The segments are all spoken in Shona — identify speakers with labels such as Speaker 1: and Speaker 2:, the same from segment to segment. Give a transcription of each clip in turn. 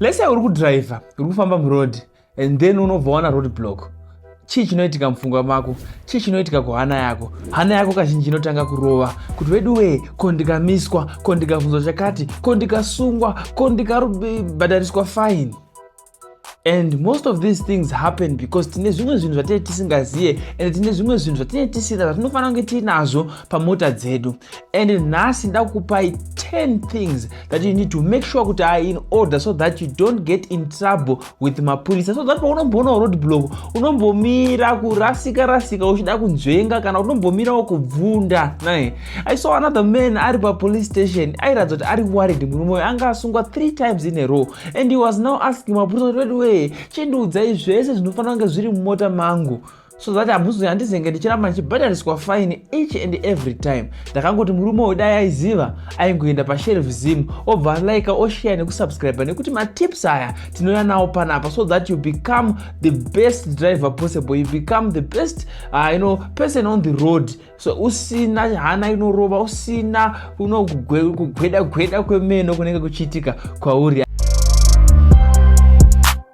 Speaker 1: lese uri kudriver uri kufamba muroad and then unobva wana road block chii chinoitika mupfungwa mako chii chinoitika kuhana yako hana yako kazhinji inotanga kurova kuti vedu wee ko ndikamiswa ko ndikavhunzwa chakati ko ndikasungwa ko ndikabhadhariswa fine and most of these things happen because tine zvimwe zvinhu zvatinee tisingazive and tine zvimwe zvinhu zvatinee tisina zvatinofanira kunge tiinazvo pamota dzedu and nhasi ndakupai 10 things that you need to make sure kuti are in order so that you don't get in trouble with mapurisa so that paunomboonawo road block unombomira kurasika rasika uchida kunzvenga kana unombomirawo kubvunda naye i saw another man ari papolice station airatidza kuti ari worried murume uyo anga asungwa three times in a row and he was now asking mapurisa kuti weduwee chindiudzai zvese zvinofanira kunge zviri mumota mangu so that hamuzi handizenge ndichiramba ndichibhadhariswa fine each and every time ndakangoti murume uyu dai aiziva aingoenda pashelf zim obva alike osheya nekusubscribe nekuti matips aya tinouya nawo panapa so that you become the best driver possible you become the best uh, you know, person on the road so usina hana inorova usina uno kugweda gweda kwemeno kunenge kuchiitika kwauri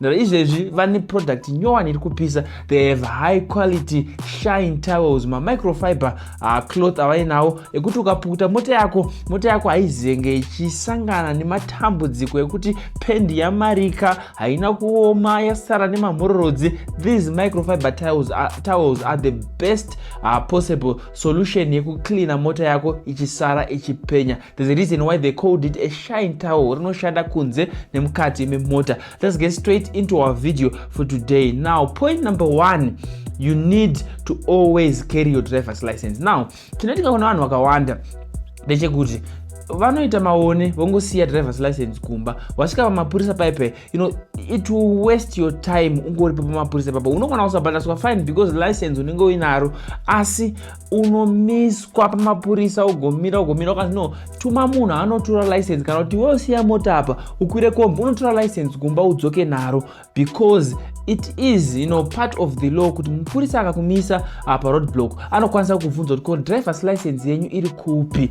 Speaker 1: Ndara izvezvi vane product nyowani iri kupisa they have high quality shine towels mamicrofiber uh, cloth avainawo ekuti ukapukuta mota yako mota yako haizenge ichisangana nematambudziko ekuti pendi yamarika haina kuoma yasara nemamhororodzi these microfiber towels are, uh, towels are the best uh, possible solution yekucleana mota yako ichisara ichipenya There's a reason why they called it a shine towel rinoshanda kunze nemukati memota let's get straight into our video for today now point number one you need to always carry your driver's license now tinoitika kuna vanhu vakawanda ndechekuti vanoita maone vongosiya driver's license kumba wasvika pamapurisa paipe you know it will waste your time ungori pamapurisa papa unokwana usabhadhaswa fine because license unenge uinaro asi unomiswa pamapurisa ugomira ugomira ukanzi no tuma munhu anotora license kana kuti wosiya mota apa ukwire kombi unotora license kumba udzoke naro because it is you know, part of the law kuti mupurisa akakumisa apa road block anokwanisa kuvhunza kuti ko drivers license yenyu iri kupi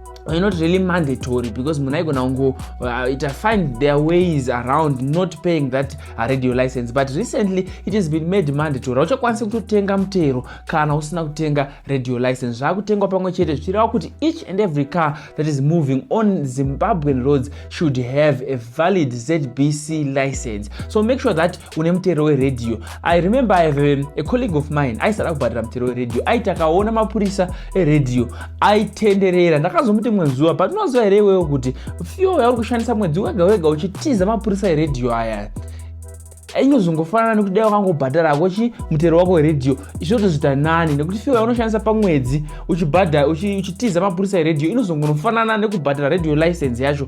Speaker 1: you're not really mandatory because munhu aigona kungoita uh, find their ways around not paying that uh, radio license but recently it has been made mandatory hauchakwanisi kutotenga mutero kana usina kutenga radio license zvaakutengwa pamwe chete zvichireva kuti each and every car that is moving on zimbabwean roads should have a valid zbc license so make sure that une mutero weredhiyo i remember i have a, a colleague of mine aisada kubhadhira mutero weredhiyo aiti akaona mapurisa eredhiyo aitenderera ndakazomuti mwe zuva but unoziva here iwewo kuti fyo yauri kushandisa mwedzi wega wega uchitiza mapurisa eredhiyo aya inozongofanana nekuti dai wakangobhadhara hako chi mutero wako weredhiyo izvotozvita nani nekuti fiwa unoshandisa pamwedzi uchibhadha uchitiza mapurisa eredhiyo inozongonofanana nekubhadhara redhiyo license yacho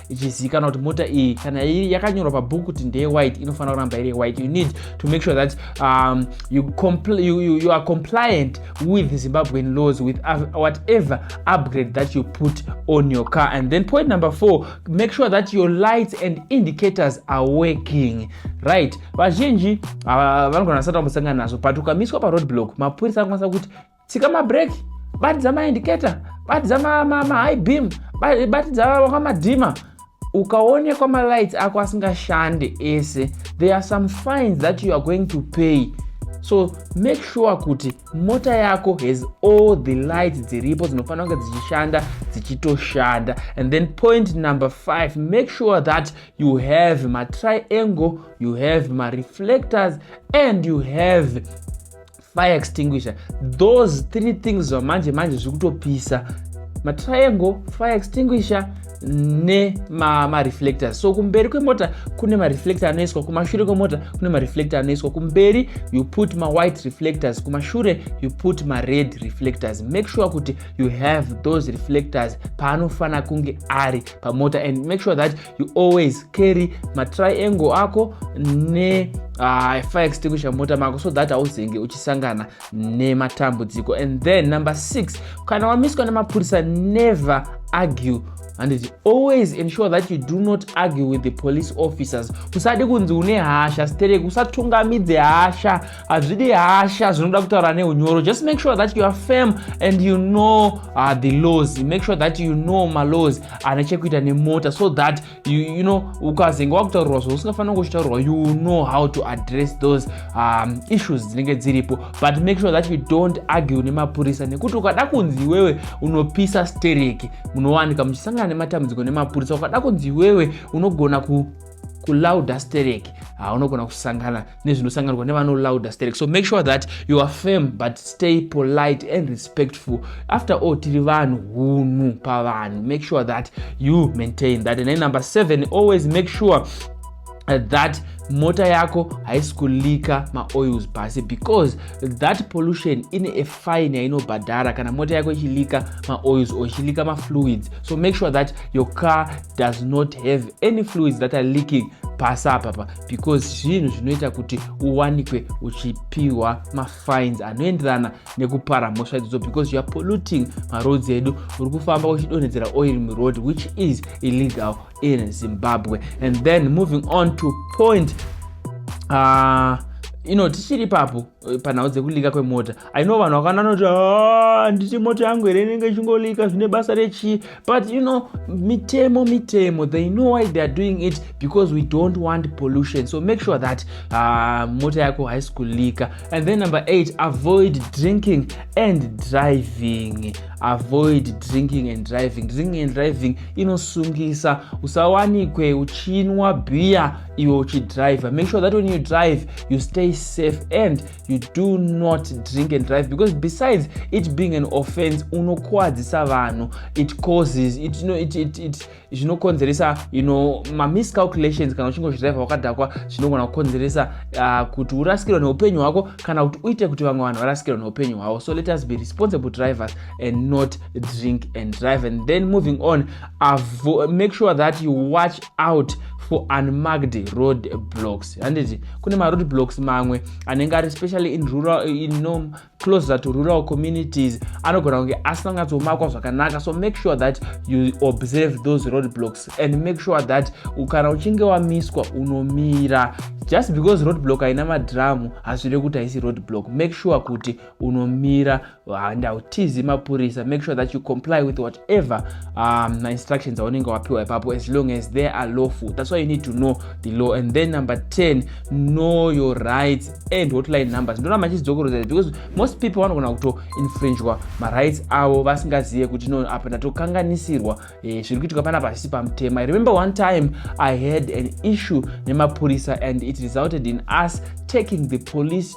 Speaker 1: ichizivikanwa kuti mota iyi kana yakanyorwa pabhuku kuti ndeye white inofanira kuramba iri white you need to make sure that um, you, compl you, you, you are compliant with zimbabwean laws with whatever upgrade that you put on your car and then point number four make sure that your lights and indicators are working right vazhinji uh, vanogona vasati vambosangana nazvo but ukamiswa paroad block mapurisa anokwanisa kuti tsika mabreak batidza maindicator batidza mahigh beam batidza wakamadhima ukaonekwa malights ako asingashande ese there are some fines that you are going to pay so make sure kuti mota yako has all the lights dziripo dzinofanira kunge dzichishanda dzichitoshanda and then point number five make sure that you have matriangle you have mareflectors and you have fire extinguisher those three things zvamanje manje zviri kutopisa matriangle fire extinguisher nemareflector so kumberi kwemota kune mareflector anoiswa kumashure kwemota kune mareflector anoiswa kumberi you put mawhite reflectors kumashure you put mared reflectors make sure kuti you have those reflectors paanofanira kunge ari pamota and make sure that you always carry matriangle ako ne uh, fire extinguisher mota mako so that hauzenge uchisangana nematambudziko and then number six kana wamiswa nemapurisa never argue and it always ensure that you do not argue with the police officers usadi kunzi une hasha stereki usatungamidze hasha hazvidi hasha zvinoda kutaura neunyoro just make sure that you are firm and you know uh, the laws make sure that you know malaws ane chekuita nemota so that you, you know ukazenge wakutaurirwa zvausingafanira kuchitaurirwa you know how to address those um, issues dzinenge dziripo but make sure that you don't argue nemapurisa nekuti ukada kunzi iwewe unopisa stereki munowanika muchisangana nematambudziko nemapurisa ukada kunzi iwewe unogona ku kulouder stereki haunogona kusangana nezvinosanganirwa nevano louder sterek so make sure that you are firm but stay polite and respectful after all tiri vanhu hunhu pavanhu make sure that you maintain that and then number seven always make sure uh, that mota yako haisi kulika maoils pasi because that pollution ine a fine yainobhadhara kana mota yako ichilika maoils or ichilika mafluids so make sure that your car does not have any fluids that are leaking pasi apapa because zvinhu zvinoita kuti uwanikwe uchipiwa mafines anoenderana nekupara mhosva idzodzo because youare polluting maroads edu uri kufamba uchidonhedzera oil muroad which is illegal in zimbabwe and then moving on to point uh, ino tichiri papo Eh, panhau dzekulika kwemota aino vanhu vakana noti handiti ah, mota yangu here inenge ichingolika zvine basa rechii but you know mitemo mitemo they know why theyare doing it because we don't want pollution so make sure that uh, mota yako haisi kulika and then number eight avoid drinking and driving avoid drinking and driving drinking and driving inosungisa usawanikwe uchinwa bhiya iwe uchidriver make sure that when you drive you stay safe and you do not drink and drive because besides it being an offense unokuwadzisa vanhu it causes it, you know, it, it, it, zvinokonzeresa you know mamiscalculations kana uchinge uchidriver wakadhakwa zvinogona kukonzeresa uh, kuti urasikirwa neupenyu hwako kana kuti uite kuti vamwe vanhu varasikirwa neupenyu hwavo so let us be responsible drivers and not drink and drive and then moving on avo make sure that you watch out for unmarked road blocks handiti kune maroad blocks mamwe anenge ari specially in rural in no closer to rural communities anogona kunge asina kunyatsomakwa zvakanaka so make sure that you observe those road blocks and make sure that kana uchinge wamiswa unomira just because road block haina madhiramu hazvireve kuti haisi road block make sure kuti unomira handautizi mapurisa make sure that you comply with whatever um, mainstructions aunenge wapiwa ipapo as long as they are lawful that's why you need to know the law and then number 10 know your rights and hotline numbers ndona machizidzokorozai because most people vanogona kuto infringwa marights avo vasingazive kuti no apa ndatokanganisirwa eh, zviri kuitika pana pasisi pamutema i remember one time i had an issue nemapurisa and it resulted in us taking the police